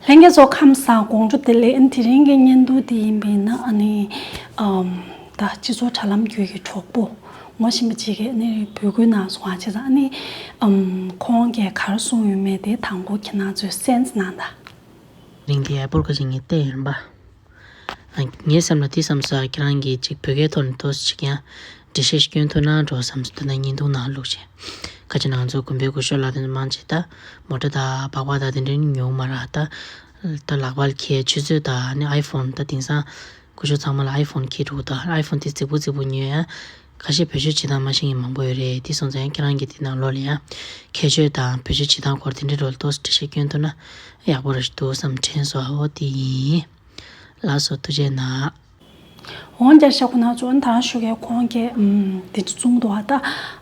ལྷན་རྒྱས་ཚོགས་ཁམས་སམ་དགོངས་སྒྲུབ་དེ་ལས་དེ་རིང་གི་བརྙན་ཐུང་དེ་ཡིན་པས་ན་ཨ་ནི་ད་སྤྱི་ཚོགས་དྲ་ལམ་བརྒྱུད་ཀྱི་གྲོགས་པོ་ངོ་བཞིན་པ་ཅིག་གིས་ཨ་ནི་འབོད་སྐུལ་གནང་སོང་བ་ཅིག་ལ་ཨ་ནི་ཁོང་གིས་ག་རེ་གསུངས་ཡོད་མེད་དེ་དང་པོ་ཁྱེད་རྣམས་ཚོས་སེམས་ནང་ད། རིང་དེ་ཡག་པོར་གོ་ཞིག་ངས་བལྟས་ཡིན་པ། ངའི་སེམས་ལ་དེ་བསམ་ས་ཁྱེད་རང་གིས་ཅིག་བོད་སྐད་ཐོག་ནས་ཐོས་ཅིག་ཡང་འབྲི་ཤེས་སྐྱོན་ཐུག་ན་འགྲོ་བསམ་ས་འདི་ནས་ཉིན་ཐུང་ནང་ལུག་བྱས་ཁ་ཅིག་ནང་ཚོགས་དགོན་པའི་དགོན་ཤོག་ལ་དེ་འདྲ་མང་ཆེ་ད་མོ་ཏྲ་དང་སྦག་སྦག་དང་དེ་འདྲ་ཉུང་མ་རག་ད་ད་ལག་པར་ཁྱེད་ཆུ་ཚོད་དང་ཨའི་ཕོན་ད་དེང་སང་དགོན་ཤོག་ཚང་མ་ལ་ཨའི་ཕོན་ཁྱེད་འདུག་ད་ཨའི་ཕོན་དེ་རྫིག་པོ་རྫིག་པོ་ཉོས་ཡང་ཁ་ཤས་བོད་ཆོས་བྱེད་སྟངས་མ་ཤེས་མཁན་མང་པོ་ཡོད་རེད་དེ་སོང་ཙང་ཁྱེད་རང་གིས་དེ་ནང་ལོགས་ལ་ཡང་ཁྱད་ཆོས་དང་བོད་ཆོས་བྱེད་སྟངས་སྐོར་དེ་འདྲའི་རོལ་དོགས་སུ་འབྲི་བཤད་བསྐྱོན་ཐུབ་ན་ཡག་པོ་རེད་འདུག་བསམ་དྲན་སོ་ཨོ་དེ་ཡིན། ལགས་སོ་ཐུགས་རྗེ་ནག། འོང་རྒྱ་ཤ་ཁོ་ན་ཚོ་ད་བཞུགས་ཀའི་ཁོང་ཁྱེད་དེ་ཚོ་བཙུན་དུ་བ་ད་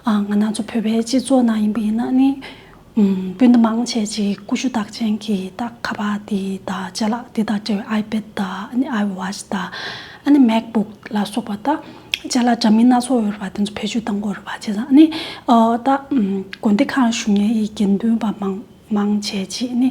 ང་ན་ཚོ་བོད་པའི་སྤྱི་ཚོགས་ནང་ཡིན་པ་ཡིན་ན་ནི་སྤུན་ཟླ་མང་ཆེ་གཅིག་ཀུ་ཤུ་རྟགས་ཅན་གྱི་རྟགས་ཁ་པར་དེ་དང་ལྕེ་ལག་དེ་དང་འབྲེལ་བའི་ཨའི་པེད་དང་ཨའི་ཝཱཅ་དང་མེག་བུག་ལ་སོགས་པ་དང་ལྕེ་ལ་འདྲ་མིན་སྣ་ཚོགས་ཡོད་རེད་བ་དེ་ཚོ་བེད་སྤྱོད་གཏང་དགོས་རེད་བ་བྱས་ཙང་ནི་ད་དགོན་སྡེ་ཁག་ཞུ་ཉན་ཡི་དགེ་འདུན་པ་མང་ཆེ་གཅིག་ནི་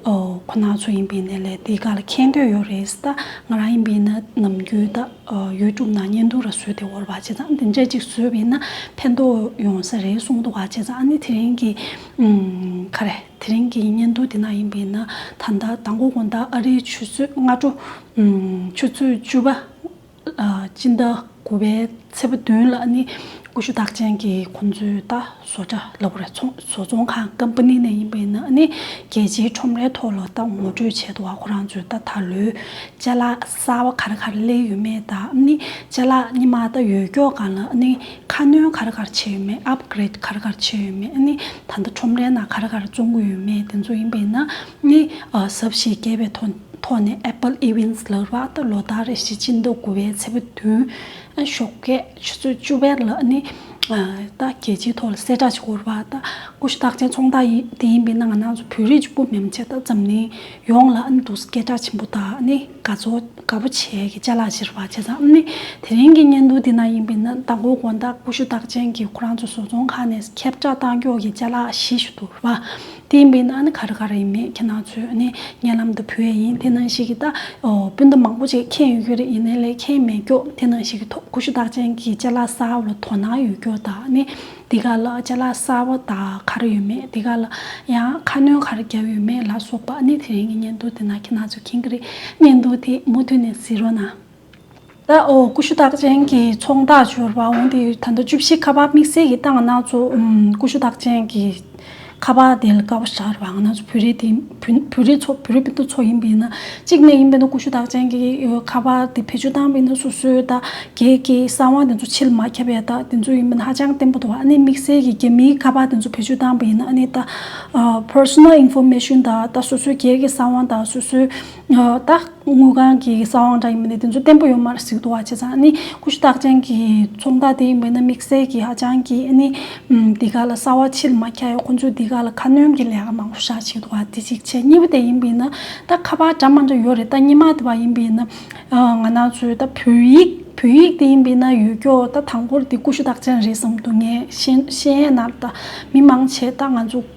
ཁོ་ན་ཚོ་ཡིན་པའི་ནས་ལས་དེ་ག་ལ་མཁྱེན་འདོད་ཡོད་རེད་ད་ང་རང་ཡིན་པའི་ནས་ནམ་རྒྱུན་ད། ཡུལ་གྲུབ་ན་གཉེན་འདུག་ར་བཟོས་ཏེ་འོར་བ་བྱས་ཙང་དེ་འདྲས་ཅིག་བཟོས་བས་ན་ཕན་ཐོགས་ཡོང་ས་རེད་གསུངས་འདུག་བ་བྱས་ཙང་ཨ་ནི་དེ་རིང་གི། ཁ་རེ། དེ་རིང་གི་གཉེན་འདུག་དེ་ན་ཡིན་པས་ན་ད་ལྟ་ད་མགོ་དགོང་ཟླ་ཨ་རིའི་ཆུ་ཚོད་སྔ་དྲོ། ཆུ་ཚོད་བཅུ་པ། སྤྱི་ཟླ་དགུ་པའི་ཚེས་པ་བདུན་ལ་ཨ་ནི་ཀུ་ཤུ་རྟགས་ཅན་གྱི་ཁོང་ཚོའི་ད་བཟོ་གྲྭ་ལ་བོ་རེད་བཟོ་ཚོང་ཁང་ཀམ་པ་ནི་ནས་ཡིན་པས་ན་ཨ་ནི་རྒྱལ་སྤྱིའི་ཁྲོམ་རའི་ཐོག་ལ་ད་ངོ་སྤྲོད་བྱས་འདུག་བ་ཁོ་རང་ཚོའི་ད་ད་ལོའི་ལྕེ་ལ། གསར་བ་གར་གར་གླས་ཡོད་མེད་དང་ནི་ལྕེ་ལག་གཉིས་མ་དང་ཡོད་ཀྱོག་གང་ལ་ནི་ཁ་སྣོན་གར་གར་བྱས་ཡོད་མེད Upgrade གར་གར་བྱས་ཡོད་མེད་ནི་ད་ལྟ་ཁྲོམ་རའི་ནང་གར་གར་བཙོང་གི་ཡོད་མེད་དེ་ཚོ་ཡིན་པས་ན་ནི་ཟབ་བཞེས་རྒྱས་པའི་ཐོག་ནས Apple Events ལགས་རག་ད་ལོ་ཟླ་རེ་བཞི་སྤྱི་ཟླ་དགུ་བའི་ཚེས་བདུན་ཤོག་སྐད། ཆུ་ཚོད་བཅུ་བར་ལ་ནི། ད་རྒྱལ་སྤྱིའི་ཐོག་ལ་གསལ་བསྒྲགས་ཤིག་གོ། ད་ཀུ་ཤུ་རྟགས་ཅན་ཚོང་རྟགས་ཡིན་དེ་ཡིན་པའི་ནང་ན་ཚོ་བོད་རིགས་ཀྱི་ཀུ་མེ་མ་ཆེ་ད་འཛམ་གླིང་ཡོངས་ལ་ནི་འདུག་སྐད་གྲགས་ཆེན་པོ་ད་ནི་དགའ་ཚོ་དགའ་པོ་བྱས་ཀྱི་བཅའ་ལག་བཞིར་བ་བྱས་ཙང་ནི་དེ་རིང་གི་བརྙན་ཐུང་དེ་ན་ཡིན་པའི་ན་ད་གོ་གོ་ད་ཀུ་ཤུ་རྟགས་ཅན་གྱི་ཁོ་རང་ཚོ་བཟོ་ཚོང་ཁང་ནས་ཁྱབ་བསྒྲགས་བཏང་ཀྱོག་གི་བཅའ་ལག་བཞི་ཞིག་འདུག་བ། དེ་མིན་ན་ནི་ག་རེ་ག་རེ་ཡིན་མིན་ཁྱེད་རྣམས་ཚོས་ནི་ངའི་ལམ་དུ་ཕུལ་བས་ཡིན་དེ་ནང་བཞིན་གྱི་སྤུན་ཟླ་མང་པོ་ཅིག་མཁྱེན་ཡོད་ཀྱི་རེད་ཡིན་ནའི་ལས་མཁྱེན་མེད་སྐྱོགས་དེ་ནང་བཞིན་གྱི་ཐོག་ཀུ་ཤུ་རྟགས་ཅན་གྱི་ལྕེ་ལ་སྲ་བ་ལ་དོ་སྣང་ཡོད་སྐྱོགས་དག་ནི་འདི་ག་ལ་ལྕེ་ལ་སྲ་བ་དག་ག་རེ་ཡོད་མེད་འདི་ག་ལ་ཡང་ཁ་སྣོན་ག་རེ་བརྒྱབ་ཡོད་མེད་ལ་སོགས་པ་ནི་དེ་རིང་གི་བརྙན་ཐུང་དེ་ནང་ཁྱེད་རྣམས་ཚོས་མཁྱེན་གྱི་རེད་བརྙན་ཐུང་དེ་མུ་མཐུད་ནས་གཟིགས་རོགས་གནང། ཀུ་ཤུ་རྟགས་ཅན་གྱི་ཚོང་རྟགས་སྦྱོར་བ་འོང་དེ་ད་ལྟ་བཅུ་བཞི་ཁ་པར་དམིགས་བསལ་གྱི་རྟགས་སྣ་ཚོགས་ཀུ་ཤུ་རྟགས་ཅན་གྱི་ཁ་པར་དེ་ལ་ཀ་བ་ཤར་བ་སྣ་ཚོགས་བོད་རིགས་དེ་བོད་རིགས་ཚོ་བོད་རིགས་སྤུན་ཟླ་ཚོ་ཡིན་པས་ན་གཅིག་ནས་ཡིན་པས་ན་ཀུ་ཤུ་རྟགས་ཅན་གྱི་ཁ་པར་དེ་བེད་སྤྱོད་བཏང་བས་ན་སོ་སོའི་རྟགས་གེགས་ཀྱི་གསང་བ་དེ་ཚོ་ཕྱིར་མ་ཁྱབ་པའི་རྟགས་དེ་ཚོ་ཡིན་པས་ན་ཧ་ཅང་བརྟན་པོ་འདུག་ཨ་ནེ་དམིགས་བསལ་གྱི་རྒྱ་མིའི་ཁ་པར་དེ་ཚོ་བེད་སྤྱོད་བཏང་བས་ན་ཨ་ནེ་ད Personal Information དང་ད་སོ་སོའི་གེགས་ཀྱི་གསང་བ་དང་སོ་སོའི་ད་དངུལ་ཁང་གི་ས་དབང་འདྲ་ཡིན་པ་ནི་དེ་ཚོ་བརྟན་པོ་ཡོད་མ་རེད་ཟིག་འདུག་བ་བྱས་ཙང་ནི་ཀུ་ཤུ་རྟགས་ཅན་གྱི་ཚོང་བདག་དེ་ཡིན་པས་ན་དམིགས་བསལ་གྱི་ཧ་ཅང་གི་ནི་འདི་ག་ལ་གསར་བ་ཕྱིར་མ་ཁྱེར་ཡོད་ཁོང་ཚོས་འདི་ག་ལ་ཁ་སྣོན་གྱི་ལས་ཀ་མང་པོ་བཞག་བྱས་འདུག་བ་དེ་གཅིག་བྱས་གཉིས་པ་དེ་ཡིན་པས་ན་ད་ཁ་པར་འདྲ་མ་འདྲ་ཡོད་རེད་ད་ཉི་མ་དེ་བ་ཡིན་པས་ན་ང་ནག་ཚོས་ད་བོད་ཡིག་བོད་ཡིག་དེ་ཡིན་པས་ན་ཡོད་སྐྱོ་ད་དང་པོར་དེ་ཀུ་ཤུ་རྟགས་ཅན་རེད་བསམ་འདུག་ངས་ཤེས་ཡས་ན་ད་མི་མང་ཆེ་ད་ང་ཚོ།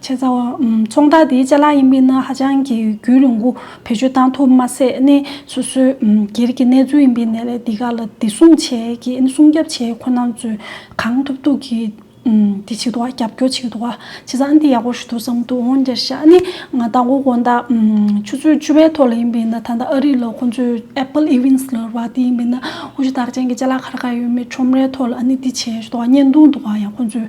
བྱས་ཙང་ཚོང་རྟགས་དེའི་ལྕེ་ལག་ཡིན་པས་ན་ཧ་ཅང་གི་རྒྱུས་ལོངས་སྐུ་བེད་སྤྱོད་གཏང་ཐུབ་མ་ཟད་ནི་སོ་སོའི་སྒེར་གྱི་གནས་ཚུལ་ཡིན་པས་ནད་ལས་འདི་ག་ལ་བདེ་སྲུང་བྱས་ཀྱི་ནི་སྲུང་སྐྱབ་བྱས་ཁོ་ནང་ཚོས་གང་ཐུབ་ཐུབ་ཀྱི་དེ་བྱེད་འདུག་རྒྱབ་སྐྱོར་བྱེད་འདུག་བྱས་ཙང་འདི་ཡག་པོ་ཞུ་འདུག་བསམ་འདུག་འོང་རྒྱ་ཤ་ནི་ང་ལྟ་མགོ་དགོང་ཟླ་ཆུ་ཚོད་བཅུ་པའི་ཐོག་ལ་ཡིན་པས་ན་ད་ལྟ་ཨ་རི་ལ་ཁོང་ཚོས Apple Events ལ་ར་དེ་ཡིན་པས་ན་ཨོ་ཆུ་དར་ཅན་གྱི་ལྕེ་ལག་ག་རེ་ག་ཡོད་མེད་ཁྲོམ་རའི་ཐོག་ལ་ནི་འདི་བྱས་ཞུ་འདུག་བརྙན་ཐུང་འདུག་ཡང་ཁོང་ཚོས།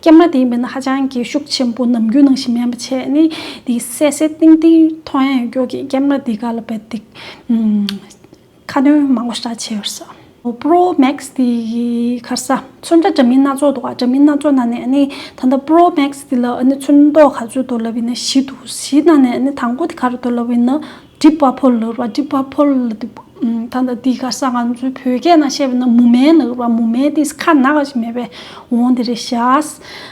སྐྱེས་མ་དེའི་མི་ནི་ཧ་ཅང་གི་ཤུགས་ཆེན་པོ་ནམ་རྒྱུན་ནང་བཞིན་སྨན་པ་ཆེ་ནི་དེའི་བསད་བསད་བཏིང་བཏིང་མཐོང་ཡང་སྐྱོ་གི་སྐྱེས་མ་དེ་ག་ལ་བད་འདི། ཁ་དོན་མང་བོ་ཤྲ་ཆེ་བར་ས། Pro Max དེ་ཡི་ཁར་ས་ཚོན་འདྲ་འདྲ་མིན་སྣ་ཚོགས་འདུག་འདྲ་མིན་སྣ་ཚོགས་ན་ནས་ནི་ད་ལྟ Pro Max དེ་ལ་ནི་ཚོན་མདོག་ག་ཚོད་དོར་ལབ་ཡིན་ན་བཞི་འདུག་བཞི་ན་ནས་ནི་དང་པོ་དེ་ག་རུ་དོར་ལབ་ཡིན་ན་སྒྲིབ་པ་ཕོ་ལ་བ་སྒྲིབ་པ་ཕོ་ལ་ད་ལྟ་འདི་ག་ས་ང་ཚོའི་བོད་སྐད་ན་བཤད་པ་ན་མུ་མེན་ལ་བ་མུ་མེན་དེ་ཁ་ན་ཁ་ཞིག་མེད་པའི་འོང་དེ་རེད་བཞག་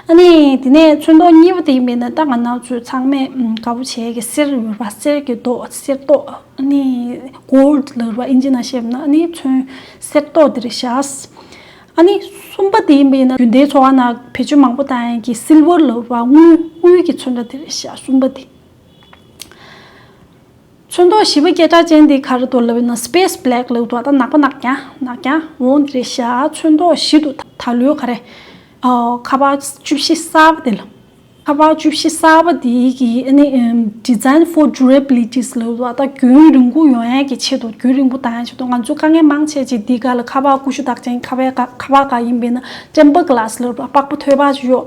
ཨ་ནི་དེ་ནས་ཚོན་མདོག་གཉིས་པ་དེ་ཡིན་པས་ན་ད་ང་ན་ཚོས་ཚང་མས་དགའ་བོ་བྱེད་ཀྱི་གསེར་ལ་བ་གསེར་གྱི་མདོག་གསེར་མདོག་ཨ་ནི Gold ལ་བ་ཨིན་ཇི་ན་བཤད་པ་ན་ཨ་ནི་ཚོན་གསེར་མདོག་དེ་རེད་བཞག་ཨ་ནི་གསུམ་པ་དེ་ཡིན་པས་ན་རྒྱུན་ལྡན་འཚོ་བ་ན་བེད་སྤྱོད་མང་པོ་བཏང་ཡན་གྱི Silver ལ་བ་དངུལ་དངུལ་གྱི་ཚོན་འདྲ་དེ་རེད་བཞག་གསུམ་པ་དེ། ཚོན་མདོག་བཞི་པོ་སྐད་གྲགས་ཅན་དེའི་ཁ་རུ་དོར་ལ་བས་ན Space Black ལེའུ་ཐོག་དང་ནག་པོ་ནག་ཀྱང་ནག་ཀྱང་འོང་དེ་རེད་ཤག་ཚོན་མདོག་བཞི་དུ་ད་ལོའི་ཁ་རེད། ཁ་པར་བཅུ་བཞི་གསར་པ་དེ་ལ། ཁ་པར་བཅུ་བཞི་གསར་པ་དེ་གི Design for Durability ལེའུ་ཐོག་ད་རྒྱུན་རིང་པོ་ཡོང་ཡས་ཀྱི་ཆེད་དུ་རྒྱུན་རིང་པོ་དང་ཡས་ཆེད་དུ་ང་ཚོས་དཀའ་ངལ་མང་ཆེ་ཆེ་དེའི་ཁ་ལ་ཁ་པར་ཀུ་ཤུ་དག་ཅན་ཁ་པར་འགའ་ཡིན་པས་ན Temper Glass ལེའུ་ཐོག་དཔག་པོ་ཐོད་པ་ཅིག་ཡོད།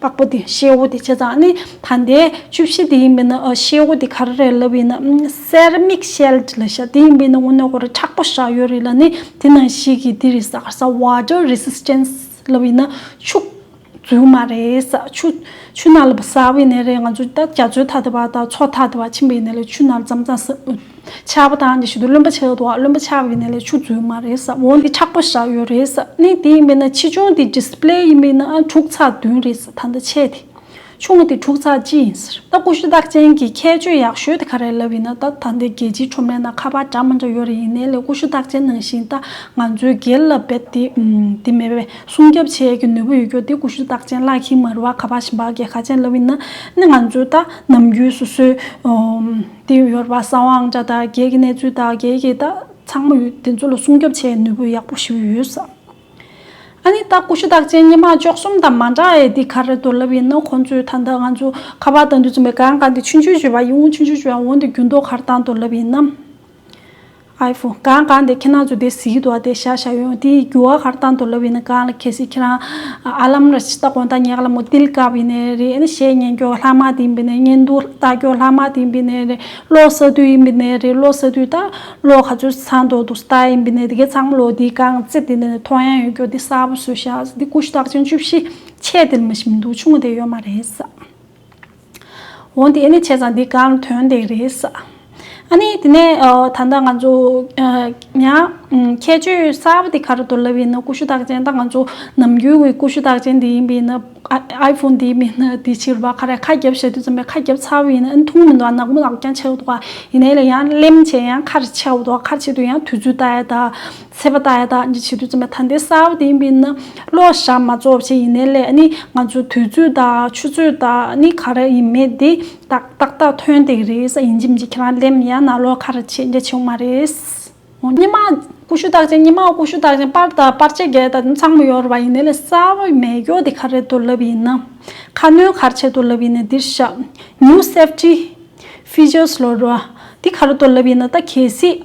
པགས་པ་དེ་ཤེལ་བོ་དེ་བྱས་ཙང་ནི་ད་དེ་བཅུ་བཞི་དེ་ཡིན་པས་ན་ཤེལ་བོ་དེ་ག་རེ་རེད་ལབ་ཡིན་ན Ceramic Shell དེ་ལ་ཤ་དེ་ཡིན་པས་ན་ངོ་ནས་ཁོ་རེ་ཁྲག་པོ་ཤ་ཡོད་རེད་ལ་ནི་དེ་ནང་བཞིན་གྱི་དེ་རེ་ཟ་ག་ཟ Water Resistance ལབ་ཡིན་ན་ཆུ་རྫུན་མ་རེད་ཆུ་ཆུ་ནང་ལབ་པ་ཟ་བའི་ནད་རེད་ང་ཚོ་ད་རྒྱ་མཚོའི་མཐའ་དེ་བ་དང་མཚོ་མཐའ་དེ་བ་ཕྱིན་པའི་ནད་ལ་ཆུ་ནང་ལབ་ཙང་ཙང་ཟ་ཆགས་པ་དང་དེ་བཞིན་དུ་རློན་པ་ཆགས་འདུག་རློན་པ་ཆགས་ཀྱི་ནད་ལས་ཆུ་འཛུལ་མ་རེད་བསམ་འོན་ཏེ་ཆགས་པ་ཞག་ཡོད་རེད་བསམ་གནས་དེ་ཡིན་པས་ན་ཆེ་ཆུང་དེ Display ཡིན་པས་ན་དྲུག་ཚགས་བདུན་རེད་བསམ་ད་ལྟ་ཆེ་དེ་ཆུང་དེ་དྲུག་ཚགས་གཅིག་ཡིན་ཟེར་ད་ཀུ་ཤུ་རྟགས་ཅན་གྱི་ཁྱད་ཆོས་ཡག་ཤོས་དེ་ག་རེད་ལབ་ཡིན་ན་ད་ད་ལྟ་རྒྱལ་སྤྱིའི་ཁྲོམ་རའི་ནང་ཁ་པར་འདྲ་མ་འདྲ་ཡོད་རེད་ཡིན་ནའི་ལས་ཀུ་ཤུ་རྟགས་ཅན་ནང་བཞིན་ད་ང་ཚོའི་སྒེར་ལ་རྦད་དེ་དེ་མེད་པས་སྲུང་སྐྱབས་བྱེད་ཀྱི་ནུས་པ་ཡོད་རྒྱུ་དེ་ཀུ་ཤུ་རྟགས་ཅན་བཀླགས་ཤིང་མ་རུ་བ་ཁ་པར་བཞིན་བག་གེ་ཁ་ཅན་ལབ་ཡིན་ན་ནི་ང་ཚོའི་ད་ནམ་རྒྱུན་སོ་སོའི་དེ་ཡོད་པ་བསམ་དབང་ཆ་དང་རྒྱལ་གྱི་གནས་ཚུལ་དང་རྒྱལ་གྱི་རྟགས་ཚང་མ་ཡོད་དེ་ཚོ་ལ་སྲུང་སྐྱོབ་བྱེད་ནུས་པོ་ཡག་པོ་ཞིག་ཡོད་བསམ། ཨ་ནི་རྟགས་ཀུ་ཤུ་རྟགས་ཅན་སྙེ་མ་ཅོག་གསུམ་དང་མ་འདྲ་ཨེ་འདི་ག་རེད་དོ་ལབ་ཡིན་ནོ་ཁོང་ཚོས་ད་ལྟ་ང་ཚོ་ཁ་པར་དང་དུས་ཚོད་མེད་གང་གང་གི་ཆུ་འཇུ་བྱེད་པ་ཡིན་འོང་ཆུ་འཇུ་བྱེད་པ་འོང་དེ་རྒྱུན་ལྡོག་གར་བཏང་དོ་ལབ་ཡིན་ནམ། ཨའི་ཧྥུ། གང་གང་དེ་ཁྱེད་རྣམས་ཚོ་དེ་ཟིག་དུ་བ་དེ་བཞག་བཞག་ཡོང་དེའི་རྒྱུ་བ་ཧར་བཏང་དུ་ལབ་ཡིན་ན་གང་ལ་ཁེ་སི་ཁྱེད་རང་ཨ་ལམ་ར་ཆི་ད་གོང་ད་ཉག་ལ་མོ་ཏིལ་ཀ་བི་ནས་རེད་ཨ་ནི་བཤད་ཉན་ཀྱོག་ལྷག་མ་དེ་བི་ནས་ཉན་འདུག་ལྟ་ཀྱོག་ལྷག་མ་དེ་བི་ནས་རེད་ལོག་ས་དུས་ཡིན་བི་ནས་རེད་ལོག་ས་དུས་ད་ལོག་ག་ཚོད་ཚང་དོག་འདུག་ལྟ་ཡིན་བི་ནས་དེ་གས་ཚང་མ་ལོག་དེའི་གང་རྩེ་དེ་ནས་ཐོག་ཡང་ཡོད་ཀྱོག་དེ་གསར་བུ་བཟོས་བཞག་ཟིག་དེ་ཀུ་ཤུ་རྟགས་ཅན་བཅུ་བཞི་ཆད་དེ་ལ་མི་ཤི་མི་འདུག་ཆུང་ངུ་དེ་ཡོད་མ་རེད་ཟ། འོ་དེ་ནི་བྱས་ཙང་འདི་གང་དོན་དེ་རེད་ས། ཨ་ནི་དེ་ནས་ད་ལྟ་ང་ཚོ་ཡང་ཁྱད་ཆོས་གསར་པ་དེ་ག་རུ་འདོར་ལབ་ཡིན་ན་ཀུ་ཤུ་རྟགས་ཅན་ད་ང་ཚོ་ནམ་རྒྱུན་འི་ཀུ་ཤུ་རྟགས་ཅན་དེ་ཡིན་པས་ན་ཨའི་ཕོན་དེ་མིན་ན་དེ་ཕྱིར་བ་ཁ་རས་ཁ་རྒྱབ་བྱ་དུས་ཙམ་པས་ཁ་རྒྱབ་ཚར་བ་ཡིན་ན་ཨ་ནི་ཐུང་མི་འདུག་ཨ་ནག་མོ་ལག་ཀྱང་ཆད་འདུག་ཨ་ཡིན་ན་ལ་ཡང་གླེམ་བྱས་ཡང་ཁ་རེ་ཆད་འདུག་ཨ་ཁ་ཆད་དུས་ཡང་དུས་ཚོད་ལྟ་ཡ་ད། ཚེ་པ་ད་ཡ་དག་གི་བྱེད་དུས་ཙམ་ཡང་ཐ་འདི་གསར་བ་དེ་ཡིན་པས་ན་ལོག་བཤགས་མ་རྫོགས་བྱེད་ཡིན་ནའི་ལས་ནི་ང་ཚོའི་དུས་ཚོད་དག་ཆུ་ཚོད་དག་ནི་ག་རེ་ཡིན་མེད་དེ་དག་ཏག་ཏག་ཐོན་དེ་རེད་ས་ཡིན་གྱི་མི་འཇིག་ཁྱེད་རང་སླེབས་ཡ་ན་ལོག་ཁ་ར་ཆེ་རྒྱ་ཆེའུ་མ་རེད། ཨོ་སྙེ་མ། ཀུ་ཤུ་དག་ཅན་སྙེ་མ་ཀུ་ཤུ་དག་ཅན་པར་དག་པར་ཆས་རྒྱལ་དག་ནི་ཚང་མ་ཡོད་རེད་བ་ཡིན་ནའི་ལས་གསར་བ་མེ་སྒྱོགས་དེ་ག་རེ་དུ་ལབ་ཡིན་ན། ཁ་སྣོན་ག་རེ་བྱེད་དུ་ལབ་ཡིན་ནའི་འདིར་བཤགས། New Safety Features ལོ་རུ། དེ་ག་རེ་དུ་ལབ་ཡིན་ན་ད་གལ་སྲིད།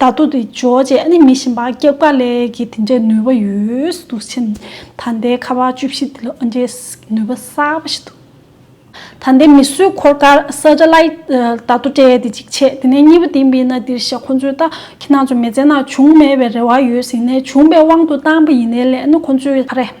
ད་དུ་དེ་འཇོག་བྱེད་ནི་མི་ཞིན་པ་སྐྱབས་དགའ་ལས་ཀྱི་དེ་འདྲའི་ནུས་པ་ཡོད་འདུག་ཕྱིན། ད་ལྟའི་ཁ་བ་བཅུ་བཞི་འདི་ལ་འོན་ཏེ་ནུས་པ་གསར་པ་ཞིག་འདུག། ད་ལྟའི་མི་སུའི་འཁོར་སྐར Satellite ད་དུ་སྤྲད་དེ་གཅིག་བྱས་དེ་ནས་གཉིས་པ་དེ་མིན་ན་འདིར་བཞག་ཁོ་ཚོས་ད་ཁྱི་ནག་ཚོ་མི་བཙན་ན་བྱུང་མེད་པའི་རེ་བ་ཡོད་ཟིན་ནས་བྱུང་བའི་དབང་དུ་བཏང་པ་ཡིན་ནའི་ལན་ནི་ཁོ་ཚོས་ཨ་རེ།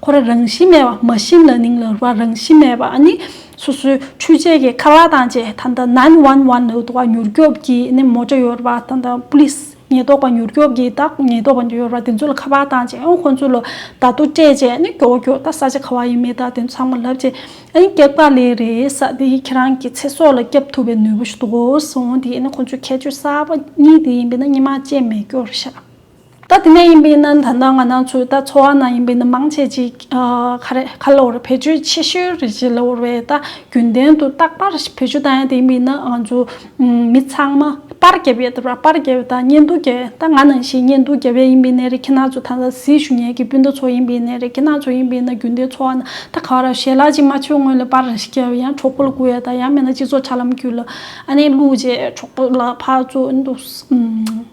ཁོ་ར་རང་བཞིན་མེད་པ་མ་ཤིན་ལ་ནིང་ལ་རུ་བ་རང་བཞིན་མེད་པ་ནི་སོ་སོའི་འཕྲུལ་ཆས་ཀྱི་ཁ་ལག་དང་བཅས་ད་ལྟ་ནན་ཝན་ཝན་ལ་དུ་བ་མྱུར་སྐྱོབ་ཀྱི་ནི་མོ་ཇ་ཡོད་པ་དང་དང་པུ་ལིས་ཉེན་རྟོག་པ་མྱུར་སྐྱོབ་ཀྱི་དང་ཉེན་རྟོག་པ་ཡོད་པ་དེ་ཚོ་ལ་ཁ་པར་དང་བཅས་ཁོ་ཚོ་ལ་ད་དུ་སྤྲད་བཅས་ནི་སྐྱོ་བོ་སྐྱོ་ད་ས་ཆ་ག་བ་ཡིན་མི་ད་དེ་ཚང་མ་ལབ་བཅས་ཨ་ནི་ཀེག་པ་ལེ་རེ་ས་དེ་ཡིས་ཁྱེད་རང་གི་ཚེ་སྲོག་ལ་སྐྱབས་ཐུབ་པའི་ནུས་པ་ཞུ་དོགས་སོང་དེ་ཡིས་ནི་ཁོ་ཚོའི་ཁྱད་ཆོས་གསར་པ་གཉིས་དེ་ཡིན་པས་ན་གཉིས་མ་བཅས་མེད་སྐྱོར་ཤག། ད་དེ་ནས་ཡིན་པའི་ནི་ད་ནངས་ནང་ཚུད་ད་འཚོ་བ་ནང་ཡིན་པའི་ནི་མང་ཆེ་གཅིག་ཁ་རེད་ཁ་ལོར་བེད་སྤྱོད་ཆེ་ཤོས་རེད་ཅེས་ལོར་བས་ད་རྒྱུན་ལྡན་དུ་རྟག་པར་བེད་སྤྱོད་ད་ཡང་དེ་ཡིན་པའི་ནི་ང་ཚོ་མི་ཚང་མ་པར་རྒྱབ་ཡས་ད་པར་རྒྱབ་ཡས་ད་བརྙན་ཐུང་རྒྱབ་ཡས་ད་ང་ནང་བཞིན་བརྙན་ཐུང་རྒྱབ་ཡས་ཡིན་པའི་ནི་རི་ཁྱི་ནག་ཚོ་ད་ད་སྲིད་ཞུ་ཉལ་གི་སྤུན་ཟླ་ཚོ་ཡིན་པའི་ནི་རི་ཁྱི་ནག་ཚོ་ཡིན་པའི་ནི་རྒྱུན་ལྡན་འཚོ་བ་ན་ད་ག་ར་ཞལ་ལག་ཅིག་མ་ཆོད་སྔོན་ལ་པར་རེ་ཞིག་རྒྱབ་ཡང་གྲོགས་པོ་ལ་སྒུག་ཡས་ད་ཡང་མེད་ན་སྤྱི་ཚོགས་ཆ་ལམ་བརྒྱུད་ལ་ཨ་ནེ་བླུགས་རྗེས་གྲོགས་པོ་ལ་ཕར་ཚུར་འདུག་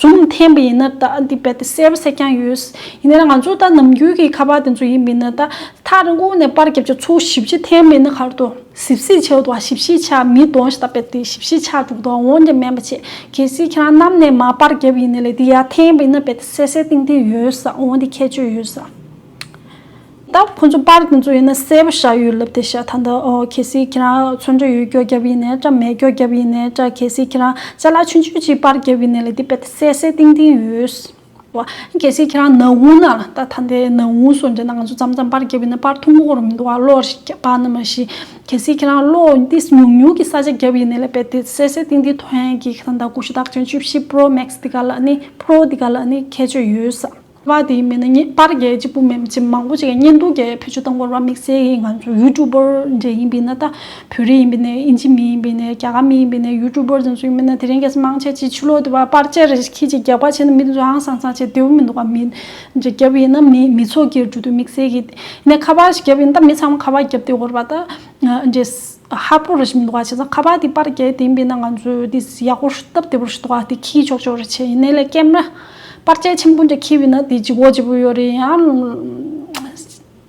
རྩོམ་འཐེན་པ་ཡིན་ན་ད་འདི་རྦད་དེ་གསལ་བོ་གསལ་རྐྱང་ཡོད། ཡིན་ན་ཡང་ང་ཚོ་ད་ནམ་རྒྱུན་གྱི་ཁ་པར་དེ་ཚོ་ཡིན་མིན་ད་ཐག་རིང་དགུང་ནས་པར་རྒྱབ་ཆ་ཚུགས་ཞིབ་གཅིག་འཐེན་མིན་ན་གར་དུ་ཟིབ་ཟིབ་བྱས་འདུག་ཞིབ་ཞིབ་ཆ་མི་འདོང་ཞེས་ད་རྦད་དེ་ཞིབ་ཞིབ་ཆ་འདུག་འདོང་འོང་རྒྱབ་མེད་མ་བྱེད་གལ་སྲིད་ཁྱེད་རང་གནམ་ནས་མ་པར་རྒྱབ་ཡིན་ནས་ལས་འདི་ཡར་འཐེན་པ་ཡིན་ན་རྦད་དེ་གསལ་གསལ་ཏིང་ཏིང་ཡོད་ས་འོང་དེ་ཁྱད་ཆོས་ཡོད་ས། ད་ཁོ་ཚོ་པར་དེ་ཚོ་ཡིན་ན་གསལ་པོ་ཤར་ཡོད་ལབ་དེ་ཤ་ཐ་འདི་ཨོ་གལ་སྲིད་ཁྱེད་རང་ཚོན་འགྲོས་ཡོད་སྐྱོ་རྒྱབ་ཡིན་ནས་ཀྲ་མེད་སྐྱོ་རྒྱབ་ཡིན་ནས་ཀྲ་གལ་སྲིད་ཁྱེད་རང་ཅ་ལག་ཆུན་ཆུན་ཅིག་པར་རྒྱབ་ཡིན་ནས་ལ་དེ་པད་དེ་སད་སད་ཏིང་ཏིང་ཡོད། བ། གལ་སྲིད་ཁྱེད་རང་ནག་འུ་ན་ལ་ད་ཐ་འདི་ནག་འུ་སོ་འདྲེ་ན་ང་ཚོ་ཙམ་ཙམ་པར་རྒྱབ་ཡིན་ན་པར་ཐུང་མོ་གོར་མི་འདུག་ཨ་བློ་ཞིག་རྒྱབ་པ་ན་མ་ཤི་གལ་སྲིད་ཁྱེད་རང་བློ་ཏིས་ཉུག་ཉུག་གི་ས་ཆ་རྒྱབ་ཡིན་ནས་ལ་པད་དེ་སད་སད་ཏིང་ཏིང་ཐོན་གྱིས་ཁ་ཐ་འདའ་ཀུ་ཤུ་དག་ཅུན་བཅུ་བཞི་པྲོ་མེག་སི་འདི་ག་ལ་ནི་པྲོ་འདི་ག་ལ་ནི་ཁྱད་ཆོས་ཡོད་ས། བ་དེའི་མི་ནི་ངེས་པར་རྒྱལ་གཅིག་པུ་མིན་གཅིག་མང་པོ་གཅིག་གཉེན་འདུག་རྒྱལ་བོད་ཆུ་དང་སྐོར་བ་དམིགས་བསལ་གྱིས་ང་ཚོ་ཡུལ་གྲུ་འབོར་འདྲེ་ཡིན་པས་ན་ད་བོད་རིགས་ཡིན་པས་ན་དབྱིན་ཇི་མི་ཡིན་པས་ན་རྒྱ་གར་མི་ཡིན་པས་ན་ཡུལ་གྲུ་འབོར་འཛིན་ཚུལ་ཡིན་པས་ན་དེ་རིང་གལ་སྲིད་དམངས་ཆེན་གཅིག་ཆུ་ལོག་དུས་བར་པར་ཅེར་རེ་ཁྱེད་ཀྱིས་རྒྱག་པ་བྱས་ན་མི་དེ་ཚོ་ཧང་སང་སང་བྱེད་བདེ་བོ་མི་འདུག་ག་མི་འདྲེ་བརྒྱབ་ཡིན་ན་མི་མི་ཚོགས་ཀྱི་གྲུ་དུ་དམིགས་བསལ་གྱིས་ནས་ཁ་པར་ཞིག་བརྒྱབ་ཡིན་ད་མི་ཚང་མ་ཁ་པར་བརྒྱབ་སྟེ་སྐོར་བ་ད་འདྲེ་ཧ་པོ་རི་ཞིག་འདུག་བ་ཆེ་ས་ཁ་བ་དེ་པར་གྱེས་དེ་འབེ་ན་ང་ཚོས་དེ་ཡག་པོ་སྟབས་དེ་པོ་ཞིག་འདུག་བ་དེ་ཁྱི་ཆོག་ཆོག་རེ་ཆེ་ཡིན་ནའི་ལས་ཀྱེ་མ་པར་གྱེས་ཆེན་པོ་འདྲ་ཁྱི་བི་ན་དེ་ལྗི་བོ་ལྗི་བོ་ཡོད་རེ་ཡང་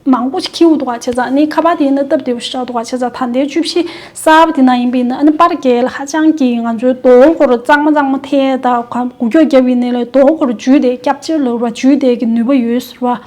མང་པོ་ཞིག་ཁྱི་འུ་འདུག་བ་ཆེ་ས་ནི་ཁ་བ་དེ་ཡིན་ན་སྟབས་དེ་པོ་ཞིག་འདུག་བ་ཆེ་ས་ད་ལྟའི་བཅུ་བཞི་ས་བ་དེ་ན་ཡིན་པི་ན་ནི་པར་གྱེས་ལ་ཧ་ཅང་གྱི་ང་ཚོའི་དོ་ཁོ་རུ་གཙང་མ་གཙང་མ་ཐེ་ད་གུ་གྱོ་རྒྱབ་བི་ནའི་ལས་དོ་ཁོ་རུ་འཇུས་དེ་སྐྱབས་བཅེར་ལ་རུ་བ་འཇུས་དེ་གི་ནུས་པ་ཡོད་ཟེར་བ།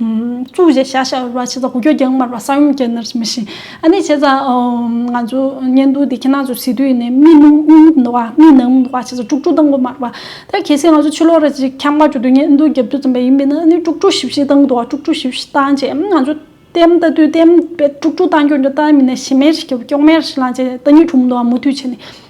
ཅུའུ་ཞེས་བྱ་བྱ་བ་བྱས་ཙང་གོ་རྒྱུ་རྒྱང་མར་བ་ས་ཡོམ་རྐྱེན་ནར་མི་ཕྱིན། ཨ་ནི་བྱས་ཙང་ང་ཚོ་གཉེན་སྟོན་དེ་ཁྱེད་རྣམས་ཚོས་བྱེད་དུས་ནས་མི་ནུབ་མི་ནུབ་འདུག་བ་མི་ནང་འདུག་བ་བྱས་ཙང་དཀྲུག་དཀྲུག་བཏང་གོ་མར་བ། ད་གལ་སྲིད་ང་ཚོ་ཕྱི་ལོག་ར་གཅིག་ཁྱམས་ཁ་གཅོད་དུས་གཉེན་སྟོན་རྒྱབ་སྐྱོར་ཙམ་པ་ཡིན་པས་ན་ཨ་ནི་དཀྲུག་དཀྲུག་ཞིབ་ཞིབ་བཏང་འདུག་བ་དཀྲུག་དཀྲུག་ཞིབ་ཞིབ་བཏང་རྗེས་ང་ཚོ་བསྟན་བལྟ་དུས་བསྟན་བལ་དཀྲུག་དཀྲུག་བཏང་རྒྱུ་འདྲ་བལྟ་མི་ནས་ཞེ་མེར་ཞེ་མེར་སྐྱོ་མེར་ཞེ་ལངས་བྱས་ཏེ་བལྟ་མྱུལ་འཁྲུག་མི་འདུག་བ་མུ་མཐུད་བྱས་ནས།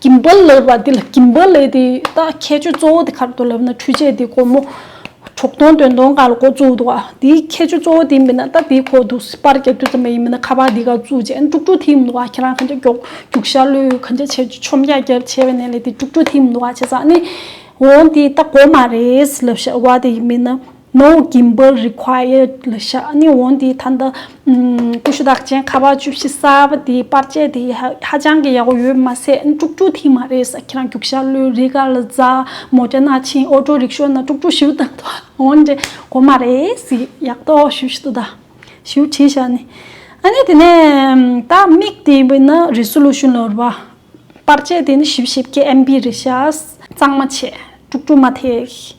ཀྱི་འབུལ་ལེ་བ་འདི་ལ་ཀྱི་འབུལ་ལེ་དེ་དག་ཁྱད་ཆོས་གཙོ་བོ་དེ་གར་དུ་ལབ་ན་འཕྲུལ་ཆས་དེ་སྒོར་མོ་གྲོག་སྟོང་དོན་སྟོང་གང་ལ་མགོ་བཙུགས་འདུག་ག་དེའི་ཁྱད་ཆོས་གཙོ་བོ་དེ་མིན་ན་ད་དེའི་ཁོག་ཏུ་སྤར་རྒྱག་རྒྱུ་ཙམ་ཡང་ཡིན་མིན་ན་ཁ་པར་དེ་ག་བཙུགས་རྗེས་དཀྲུག་དཀྲུག་ཐིམ་འདུག་ག་ཁྱེད་རང་གང་ཅག་རྒྱོག་རྒྱུག་ཤར་ལུས་གང་ཅག་བྱས་རྒྱུ་ཆོམ་རྒྱག་རྒྱག་བྱས་པ་ནས་ལས་དེ་དཀྲུག་དཀྲུག་ཐིམ་འདུག་ག་བྱས་ཙང་ནི་འོང་དེ་ད་སྒོར་མ་རེད་ལབ་བཞག་བ་དེ་ཡིན་མིན་ན། ནོ Gimbal Required ལ་བཞག་ནས་འོང་དེའི་ཐ་ན་ཀུ་ཤུ་དག་ཅན་ཁ་བ་བཅུ་བཞི་གསར་བ་དེའི་དཔར་ཆས་དེ་ཧ་ཅང་གི་ཡག་པོ་ཡོད་མ་ཟད་དཀྲུག་དཀྲུག་ཐིག་མ་རེད་ས་ཁྱེད་རང་རྒྱུག་ཤར་ལོའི་རི་གར་ལ་བཟའ་མོ་རྒྱ་ནག་ཕྱིན་ཨོ་ཏྲོ་རིག་ཤོ་ན་དཀྲུག་དཀྲུག་ཞིབ་དང་དོ་འོན་འདྲེ་གོ་མ་རེད་སི་ཡག་ཏོ་ཞུ་ཞི་ཏོ་ད་ཞུ་བྱེད་བཞག་ནི་ཨ་ནི་དེ་ནས་ད་མིག་དེ་བི་ན Resolution ལོར་བ་དཔར་ཆས་དེ་ནི་ཞིབ་ཞིབ་ཀྱི MB རེད་བཞག་གཙང་མ་བྱས་དཀྲུག་དཀྲུག་མ་ཐེག།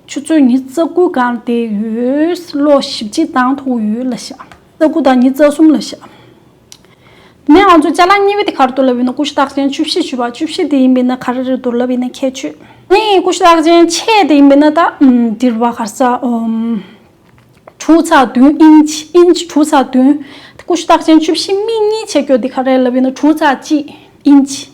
ཆུ་ཚོད་ཉིས་རྩ་དགུ་བཀང་སྟེ་ཡོད། ལོ་བཞི་བརྗེས་དང་ཐོག་ཡོད་ལ་བཞག། རྩ་དགུ་དང་ཉིས་རྩ་གསུམ་ལ་བཞག། དེ་ནས་ང་ཚོས་ལྕགས་ལ་གཉིས་པའི་དེ་གར་དུར་ལབ་ཡིན་ན་ཀུ་ཤུ་རྟགས་ཅན་བཅུ་བཞི་བྱུས་པ་བཅུ་བཞི་དེ་ཡིན་པས་ན་གར་རེར་དུར་ལབ་ཡིན་ན་ཁྱད་ཆོས། ནི་ཀུ་ཤུ་རྟགས་ཅན་ཕྱེད་དེ་ཡིན་པས་ན་ད། དིར་བ་གར་ས། དྲུག་ཚ་བདུན་ཨིནཇི་ཨིནཇི་དྲུག་ཚ་བདུན། ཀུ་ཤུ་རྟགས་ཅན་བཅུ་བཞི་སྨི་གཉིས་ཕྱེད་ཀྱོ་དེ་གར་རེར་ལབ་ཡིན་ན་དྲུག་ཚ་གཅིག་ཨིནཇི།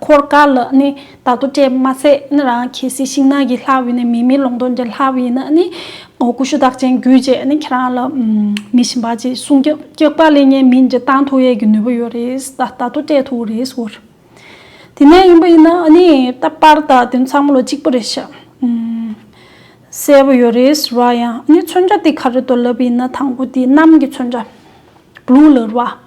འཁོར་དཀར་ལ་ནི་བདག་ཏུ་སྤྲད་མ་ཟད་ནི་རང་གི་སྲས་ཤིང་ནགས་ཀྱི་ལྷའི་དབུས་ནས་མི་མིན་ལུང་སྟོང་གི་ལྷའི་དབུས་ན་ནི་ཀུ་ཤུ་བདག་ཅན་རྒྱུད་ཅེས་ནི་ཁྱེད་རང་ལ་མི་ཞིམ་པ་ཅིག་གསུང་རྒྱུ་སྐྱེགས་པ་ལས་གཉན་མིན་གྱི་སྟངས་ཐུག་ཡས་ཀྱི་ནུས་པ་ཡོད་རེད་ད་ལྟ་ཏུ་སྤྲད་ཐུག་རེད་ཟེར། དེ་ནས་ཡིན་པ་ཡིན་ན་ནི་ད་པར་ད་དོན་ཚང་མ་ལོ་གཅིག་པོ་རེད་ཤག་གསལ་པོ་ཡོད་རེད་ཟེར་བ་ཡང་ནི་མཚོན་ཆ་དེ་ག་རེ་དོ་ལབ་ཡིན་ན་དང་པོ་དེ་གནམ་གྱི་མཚོན་ཆ། Blue ལར་བ།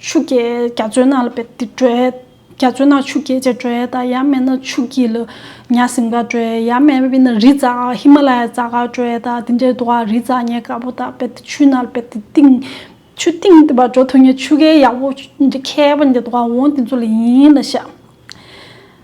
ཆུ་སྐྱེས་རྒྱ་མཚོའི་ནང་ལ་བལྟས་ཏེ་བྲོས། རྒྱ་མཚོའི་ནང་ཆུ་སྐྱེས་ཅེས་བྲོས། ད་ཡར་མེད་ན་ཆུ་སྐྱིད་ལ་ཉྭ་ཟིམ་འགའ་བྲོས། ཡར་མེད་པས་ན་རི་རྩ་ཧི་མ་ལ་ཡའི་རྩ་འགའ་བྲོས། ད་དེ་འདྲའི་དུ་བ་རི་རྩ་ཉེ་དཀར་པོ་དག་བལྟས་ཏེ་ཆུའི་ནང་ལ་བལྟས་ཏེ་བཏིང། ཆུ་བཏིང་དེ་བར་འགྲོ་ཐུབ་ངེས་ཆུ་ཁའི་ཡག་པོ་ཁྱེར་བ་ནི་དེ་དུ་བ་འོང་དེ་ཚོ་ལ་ཡིན་ལ་ཤག།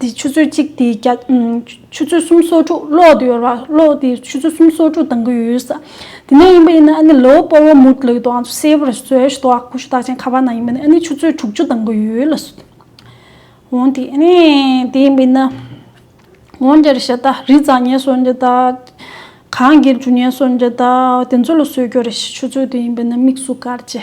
དེ་ཆུ་ཚོད་གཅིག་དེ་རྒྱ། ཆུ་ཚོད་གསུམ་སོ་དྲུག་གློག་དེ་ཡོར་བ་གློག་དེ་ཆུ་ཚོད་གསུམ་སོ་དྲུག་དང་གི་ཡོད་ས། དེ་ནས་ཡིན་པ་ཡིན་ན་ཨ་ནི་ལོ་སྤོར་བ་མུར་ལུག་དང་གསེར་བུར་བཟོས་ཤི་ཏོག་ཁུ་ཤུ་དག་ཅན་ཁ་བ་ན་ཡིན་པ་ནི་ཨ་ནི་ཆུ་ཚོད་དྲུག་ཅུ་དང་གི་ཡོད་ལ་སོ། འོན་ཏེ་ཨ་ནི་དེ་ཡིན་པ་ཡིན་ན། འོན་ཀྱེ་རི་ཤ་ད་རི་རྫ་ཉེན་སོ་འཇི་ད། གངས་སྒེར་ཇུ་ཉེན་སོ་འཇི་ད་དེ་ཚོ་ལ་སོས་ཀྱོ་རི་ཤི་ཆུ་ཚོད་དེ་ཡིན་པ་ནི་དམིགས་སུ་བཀར་ཅི།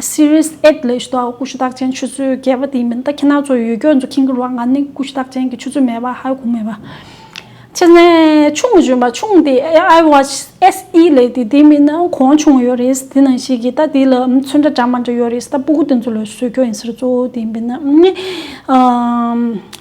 Series Eight ལས་ཞུ་དག་སྐུ་ཞུ་དག་ཅན་ཆུ་ཚོད་བརྒྱད་པ་དེ་མིན་ད་ཁྱེད་ནག་ཚོ་ཡོད་སྐྱོ་འཛུགས་ཁིན་གི་རུང་བ་ང་ནི་སྐུ་ཞུ་དག་ཅན་གི་ཆུ་ཚོད་མེད་པ་ཧའི་གུང་མེད་པ་ཆེ་ནས་ཆུང་གི་ཞུན་པ་ཆུང་དེ I Watch SE ལས་དེ་དེ་མིན་ན་གོང་ཆུང་ཡོད་རེད་དེ་ནང་ཞིག་གི་ད་དེ་ལ་ཚོན་འདྲ་འདྲ་མ་འདྲ་ཡོད་རེད་ད་སྤུ་གུ་དེ་ཚོ་ལ་བཟོད་སྐྱོ་ཡིན་ཟེར་གཙོ་བོ་དེ་མིན་ན་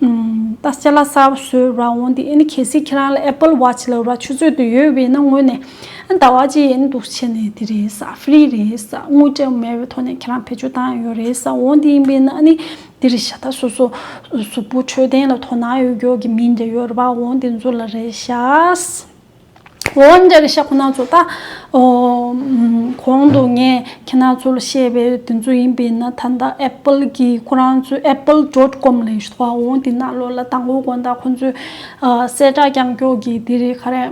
ད་སྐྱ་ལ་སར་བཟོས་ར་འོང་དེ་ཨེ་གལ་སྲིད་ཁྱེད་རང་ལ Apple Watch ལ་ར་ཆུ་ཚོད་དུ་ཡོད་བས་ན་དངོས་ནས་ཟླ་བ་གཅིག་ཡན་འདུག་བྱས་ནས་དེ་རེད་ས Free རེད་ས་དངུལ་བྲལ་མེད་བའི་ཐོག་ནས་ཁྱེད་རང་བེད་སྤྱོད་བཏང་ཡོད་རེད་ས་འོང་དེ་ཡིན་པས་ན་ཨ་ནི་དེ་རེད་ཤ་ད་སོ་སོ་གཟུགས་པོ་འཕྲོད་བསྟེན་ལ་དོ་སྣང་ཡོད་མགྱོགས་ཀྱི་མིན་དེ་ཡོད་ར་འོང་དེ་འཛུགས་ལ་རེད་ཤ། འོན་ཀྱང་ཤ་ཁོ་ན་ཚོ་ད་གོང་དུ་ངས་ཁྱེད་ན་ཚོ་ལ་བཤད་པའི་དེ་ཚོ་ཡིན་པས་ན་ད་ལྟ Apple གྱི་ཁོ་རང་ཚོའི Apple dot com ལས་ཞུ་བ་འོང་དེ་ན་ལོ་ལ་དང་བོ་དགོན་དང་ཁོ་ཚོའི་གསལ་བསྒྲགས་རྐྱང་རྐྱོག་གི་དེ་རེད་ཁ་རེད་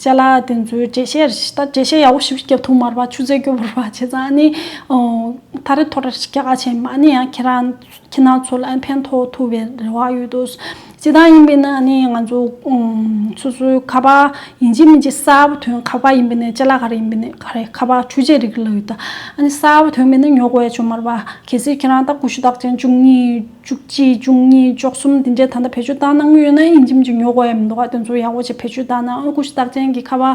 ཅེ་ལ་དེ་ཚོའི་འགྲེལ་བཤད་རེ་ཞིག་ད་འགྲེལ་བཤད་ཡག་པོ་ཞིག་བརྒྱབ་ཐུབ་མར་བ་ཆུ་ཚད་སྐྱོ་བོར་བ་བྱས་ཙང་ནི་ད་རེ་ཐོ་རེ་ཞིག་རྒྱག་ཆེན་མ་ནི་ཡང་ཁྱེད་རང་ཁྱེད་རྣམས་ཚོ་ལ་ཕན་ཐོགས་ཐུབ་པའི་རེ་བ་ཡོད་དོ། ཅི་ལྟར་ཡིན་པས་ན་ནི་ང་ཚོ་སོ་སོའི་ཁ་བ་ཡིན་གཅིག་མིན་གཅིག་གསར་བུ་དོན་ཁ་བ་ཡིན་པས་ནི་ལྕེ་ལ་ག་རེ་ཡིན་པས་ནི་ག་རེ་ཁ་བ་ཆུ་ཆད་རིགས་ལ་ཡོད་དོ། ཨ་ནི་གསར་བུ་དོན་མེད་ན་ཉོག་བས་ཆོ་མར་བ། གལ་སྲིད་ཁྱེད་རང་ལྟ་ཀུ་ཤུ་རྟགས་ཅན་བཅུ་གཉིས་བཅུ་གཅིག་བཅུ་གཉིས་བཅོ་གསུམ་དེ་འདྲས་ད་ལྟ་བེད་སྤྱོད་བཏང་གནང་གི་ཡོད་ན་ཨིན་གཅིག་མིན་གཅིག་ཉོག་བས་མི་འདུག་ག་དེ་ཚོ་ཡག་པོ་བྱས་བེད་སྤྱོད་བཏང་ན་ཨ་ཀུ་ཤུ་རྟགས་ཅན་གྱི་ཁ་བ།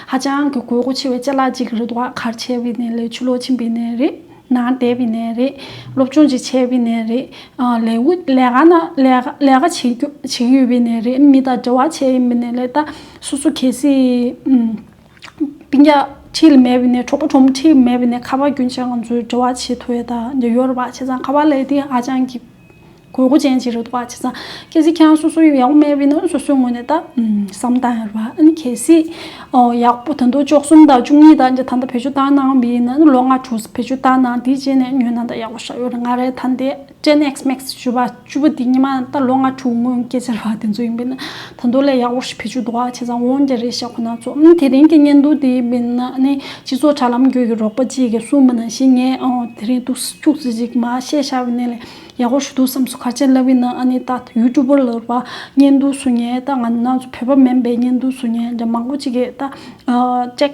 ཧ་ཅང་གི་དགོས་མཁོ་ཆེ་བའི་ལྕེ་ལག་གཅིག་རེད་འདུག་ཁར་ཆེ་བའི་ནས་ལས་ཆུ་ལོག་ཆེན་པའི་ནས་རེད། ནང་བདེ་བའི་ནས་རེད། སློབ་སྦྱོང་བྱེད་ཆེ་བའི་ནས་རེད། ལས་འུ་ལས་ཀ་ན་ལས་ཀ་བྱེད་ཀྱི་ཡོད་པའི་ནས་རེད་མི་དང་འབྲེལ་བ་ཆེ་ཡིན་པའི་ནས་ལས་ད་སོ་སོ་གལ་སྲིད། པིང་ཀྱག་ཁྲི་ལ་མེད་པའི་ནས་གྲོགས་པོ་གྲོགས་མོ་ཁྲི་ལ་མེད་པའི་ནས་ཁ་བ་རྒྱུན་ཆད་ང་ཚོའི་འབྲེལ་བ་ཆེ་མཐོ་ཡོད་ད་འདི་ཡོད་རེད་བ་ཆེ་ཚང་ཁ་བ་ལས་དེ་ཧ་ཅང་གི། དགོས་མཁོ་ཅན་གྱི་རུ་ཐོག་ཁག་ཅིག་ཚང། གལ་སྲིད་ཁྱེད་སོ་སོ་ཡོད་ཡག་པོ་མེད་པའི་ན་སོ་སོའི་ངོས་ནས་ད་བསམ་དང་རེད་པ་ཨང་གལ་སྲིད་ཡག་པོ་དང་དུ་ཅོག་གསུམ་དང་བཅུ་གཉིས་དང་ད་ལྟ་བེད་སྤྱོད་བཏང་གནང་བའི་ན་ལོ་ལྔ་དྲུག་བེད་སྤྱོད་བཏང་གནང་དེའི་རྗེས་ནས་ཉོས་ན་ད་ཡག་པོ་ཞག་ཡོད་རེད་ང་རེད་ད་འདས Gen X Max བཅུ་པ་བཅུ་པོ་དེ་ཉི་མ་ད་ལོ་ལྔ་དྲུག་སྔོན་སྐྱེས་ཚལ་བ་དེ་ཚོ་ཡིན་པས་ན། ད་མདོ་ལས་ཡག་པོ་ཞིག་ཕེབས་རྒྱུ་འདུག་ཨ་ཁྱེད་ཚང་འོང་རྒྱ་རེད་ཞེས་ཁོ་ན་ཚོ་དེ་རིང་གི་བརྙན་ཐུང་དེའི་མི་སྣ་ནི་སྤྱི་ཚོགས་དྲ་ལམ་བརྒྱུད་ཀྱི་རོགས་པ་གཅིག་གི་གསུང་མི་སྣ་ཞིག་ངས་དེ་རིང་ཏུ་ཤུགས་ཙི་ཙིག་མ་བཤད་ཤག་བས་ནས་ལས་ཡག་པོ་ཞུ་འདུག་བསམ་སོ་གར་ཆེན་བླ་བི་ན་ཨ་ནི་ད་ཡུལ་གྲུ་པོར་ལོར་བ་བརྙན་ཐུང་བཟོ་ཉེན་ད་ང་ནང་ཚོ་བོད་པ་མིན་པས་བརྙན་ཐུང་བཟོ་ཉེན་འདྲ་མང་པོ་ཅིག་ཡེད་ད། ཅེག།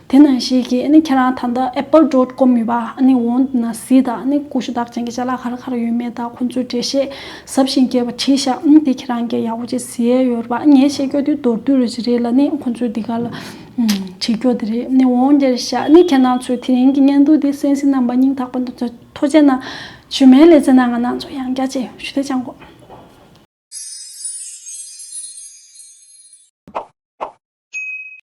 དེ་ནང་བཞིན་གྱི་ཨ་ནི་ཁྱེད་རང་ད་ལྟ Apple dot com ཡོད་པ་ཨ་ནི་འོང་དུ་ན་ཟིག་དང་ཨ་ནི་ཀུ་ཤུ་དག་ཅན་གྱི་ཅ་ལག་ཧར་ཧར་ཡོད་མེད་དག་ཁོང་ཚོའི་འགྲེལ་བཤད་ཟབ་ཞིང་རྒྱས་པ་བྲིས་ཤག་ཨང་དེ་ཁྱེད་རང་གིས་ཡག་པོ་བྱེད་ཟེར་ཡོད་རེད་པ་ངས་བཤད་རྒྱོ་དེ་མདོར་བསྡུས་རེད་ཅི་རེད་ལ་ནི་ཁོང་ཚོས་འདི་ག་ལ་བྲིས་རྒྱོ་དེ་རེད་ཨ་ནི་འོང་རྒྱལ་ཤག་ཨ་ནི་ཁྱེད་རང་ཚོས་དེ་རིང་གི་བརྙན་ཐུང་འདི་གསན་ཟིན་རྣམས་པ་སྙིང་ཐག་པ་འདུག་ཚོད་མཐོ་བྱས་ན་བཞུ་མའི་ལེ་ཚན་ན་ང་ནང་ཚོ་ཡང་རྒྱ་ཆེ་ཞུ་དེ་ཅང་གོ།